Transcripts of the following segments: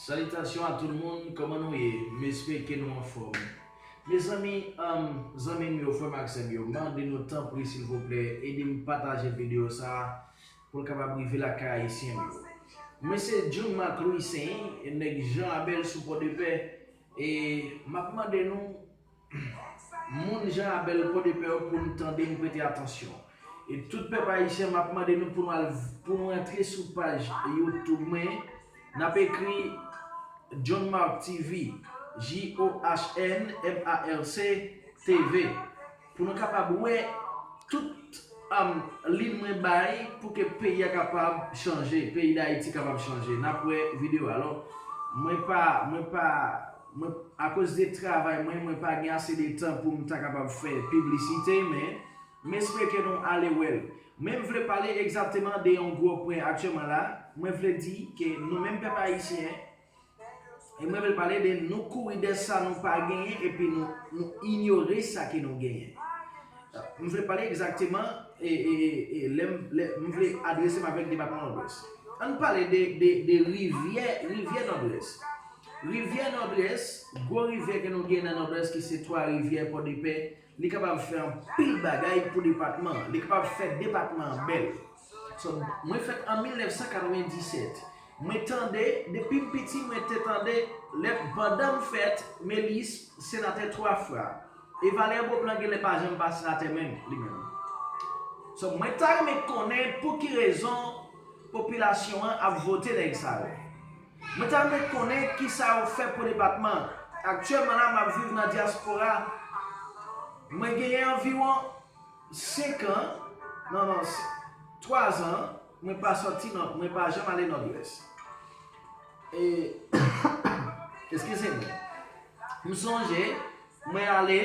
Salitasyon a tout moun kòman nou ye m espeke nou anfòm mezanmi humm zanmim yo frèm ak sèm yo mande nou tanpri silvouplè edem pataje video sa poul kapab rive lakay ayisyenm yo mwen se Jhon Marc Louissaint nèg Jean Abel sou pòdepè e map mande nou Moun Jean Abel Podepè yo pou nou tande n prete atansyon. E tout pèp ayisyen map mande nou pou nou al pou nou antre sou paj YouTube mwen nap ekri Johnmarc TV JOHNMARC TV pou nou kapab wè tout lin mwen bay pou ke peyi a kapab chanje peyi dayiti kapab chanje nap wè video alò mwen pa mwen pa Mwen, akoz de travay mwen, mwen pa gen ase de tan pou m ta kapab fè piblisite, men, m espere ke nou ale wè l. Men m vle pale egzatteman de yon gwo pwen aktyèman la, mwen vle di ke nou menm pèp ayisyen, e mwen vle pale de nou kouri dè sa nou pa genyen epi nou, nou inyore sa ke nou genyen. M vle pale egzakteman, e, e, e, lè m, lè m vle adrese m avèk depatman Nòdwès. An n pale de, de, de rivyè, rivyè Nòdwès. Rivyè Nòdwès, Gwo rivyè ke nou gen nan Nòdwès ki se Twa Rivyè, Pòdepè, li kapab fè anpil bagay pou depatman an. Li kapab fè depatman an bèl. So, mwen fèt an 1997. Mwen tande, depi m piti mwen te tande, lè, pandan m fèt, Melis, senatè twa fwa. E Valère Beauplan genlè pa janm pa senatè menm, li menm. So, mwen ta renmen konnen pou ki rezon popilasyon an ap vote nèg sa yo. Mwen ta renmen konnen kisa ou fè pou depatman an. Aktyèlman la map viv nan dyaspora mwen genyen anviwon 5 an non non 3 zan mwen pa sòti nò mwen pa janm ale nòdwès e eskize mwen m sonje mwen ale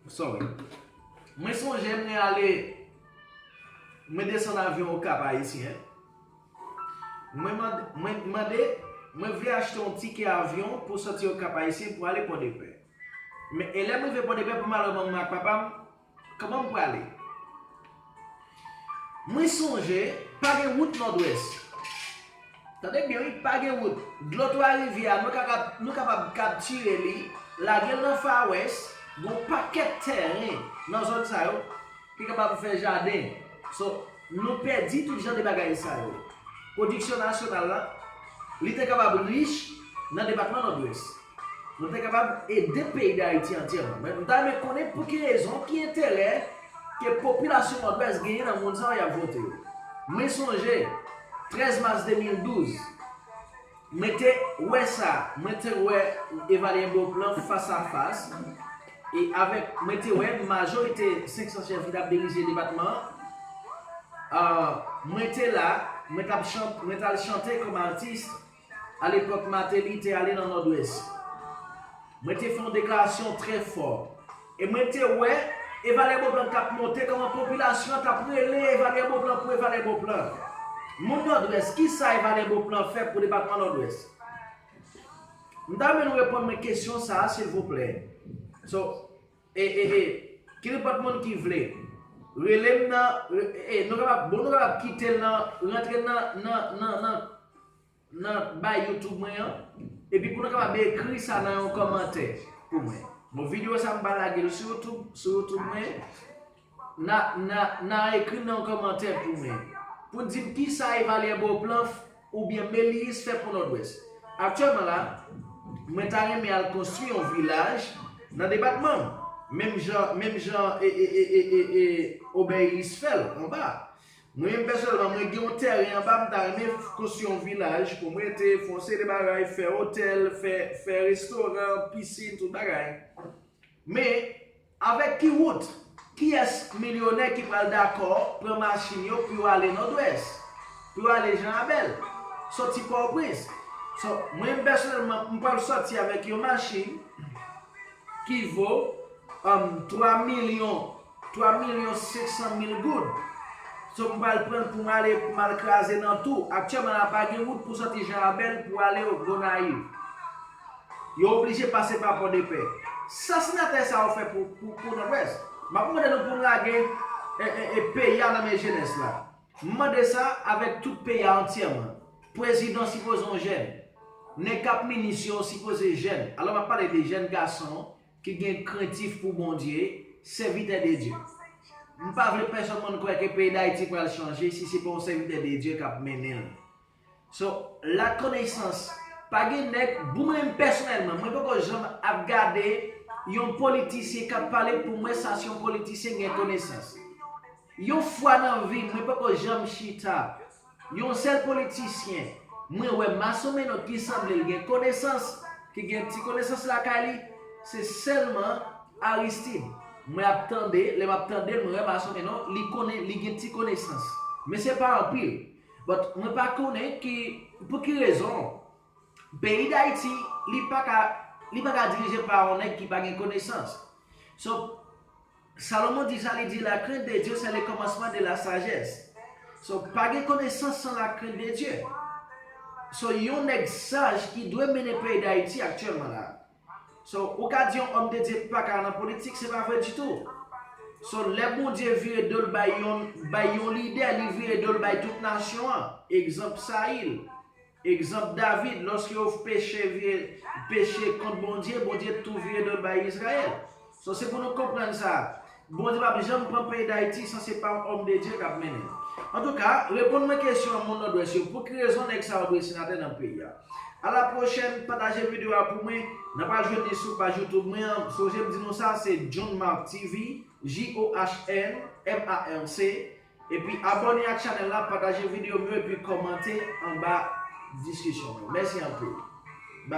Sorry. Mwen sonje mwen ale mwen desann avyon o kap ayisyen mwen mande mwen t mande mwen vle achte yon tikè avyon pou soti o kap ayisyen pou ale pòdepè men e lèm rive pòdepè pou malè manman ak papam Kman m prale? Mwen sonje pa gen wout nòdwès. Tande byen wi, pa gen wout. Dlo twa rivyè a nou kapab kaptire li, lage l nan fawès, gon pakèt tèren nan zòn sa yo ki kapab fè jaden. So, nou pèdi tout jan de bagay sa yo. Pwodiksyon nasyonal la, li te kapab rich nan depatman nòdwès. Nou te kapab ede peyi Dayiti antyèman. Men, m ta renmen konnen pou ki rezon, ki enterè ke popilasyon Nòdwès genyen nan moun sa yo y ap vote yo. Mwen sonje, 13 mas 2012, mwen te wè sa, mwen te wè Evalye Beauplan fas a fas, e avèk, mwen te wè majorite 500 chèf ki t ap dirije depatman an, mwen te la, mwen t ap chante, mwen t al chante kòm atis, A lepòk Mateli te ale nan Nòdwès, mwen te fè yon deklarasyon trè fò e mwen te wè e Valè Boplan tap monte kòman popilasyon an tap rele e Valè Boplan pou e Valè Boplan. Moun Nòdwès, kisa e Valè Boplan fè pou depatman Nòdwès? M ta renmen nou reponn mwen kesyon sa a silvouplè. So. E e e knpòt moun ki vle Rele m nan e nou kapab bon nou kapab kitel nan rantre l nan nan nan nan nan bay YouTube mwen an epi pou nou kapab ekri sa nan yon kòmantè pou mwen bon video sa m pa lagel sou YouTube sou YouTube mwen Nan ekri nan yon kòmantè pou mwen pou n di m kisa Evalye Beauplan oubyen Meliis fè pou Nòdwès. Aktyèlman la, mwen ta renmen al konstwi yon vilaj nan depatman m, menm jan menm jan e Obèylis fè l anba a. Mwen menm pèsonèlman mwen gen yon tèren anba m ta renmen konstwi yon vilaj pou m rete, fè yon seri de bagay, fè otèl, fè restoran, pisin, tout bagay. Men. Avèk ki wout? Kiyès milyonè ki pral dakò pran machin yo pou yo ale Nòdwès? Pou yo ale Jan Abèl? Soti Pòtoprens? So, mwen menm pèsonèlman, m pral soti avèk yon machin ki vo, um, 3 milyon, 3 milyon 500 mil goud. So, m pral pran l pou m ale, pou m al kraze nan tou. Aktyèlman la pa gen wout pou soti Jan Abèl pou ale Gonayiv. Yo oblije pase pa pòdepè. Sa senatè sa yo fè pou nòdwès. Map mande nou poun lage peyi a nan men jenès la. M mande sa avèk tout peyi a antyèman. Prezidan sipoze yon jèn. Nèg kap minis yo sipoze jèn. Alò map pale de jèn gason ki gen krentif pou Bondye, sèvitè de Dye. M pa vle pèsòn moun kwè ke peyi Dayiti pral chanje si se pa yon sèvitè de Dye kap mennen l. So la koneysans pa gen nèg bou menm pèsonèlman mwen poko janm ap gade yon politisyen kap pale poum wè sa si yon politisyen gen konesans yon fwa nan vim mwen poko janm chita yon sèl politisyen mwen wè masomeno ki sanblel gen konesans ki gen ti konesans lakay li se sèlman aristid mwen ap tande lèm ap tandel mwen wè masomeno li konnen li gen ti konesans men se pa anpil But mwen pa konnen ki pou ki rezon peyi dayiti li pa ka li pa ka dirije pa yon nèg ki pa gen konesans so Salomon di sa li di la krent de Dye se le komansman de la sajès so pa gen konesans san la krent de Dye so yon nèg saj ki dwe mennen peyi dayiti aktyèlman la. So ou ka di yon homme de Dieu paka nan politik se pa vre ditou. So lè Bondye vire dol bay yon bay yon lidè li vire dol bay tout nasyon an. Egzanp Sayil. Egzanp David loske yo peche vire peche kont Bondye, Bondye tou vire dol bay Izrayèl. So se pou nou konprann sa. Bondye pap janm pran peyi dayiti san se pa yon òm de Dye kap mennenl. Antouka, reponn mwen kesyon an moun nòdwès yo, pou ki rezon nèg sa yo dwe senatè nan peyi a? A la pwochèn, pataje video a pou mwen, nan pral jwenn li sou paj youtube mwen an, sonje m di nou sa se JohnMarc TV, JOHNMARC, epi abòne ak chanèl la, pataje video m yo epi kòmante anba diskisyon m yo. Mèsi anpil.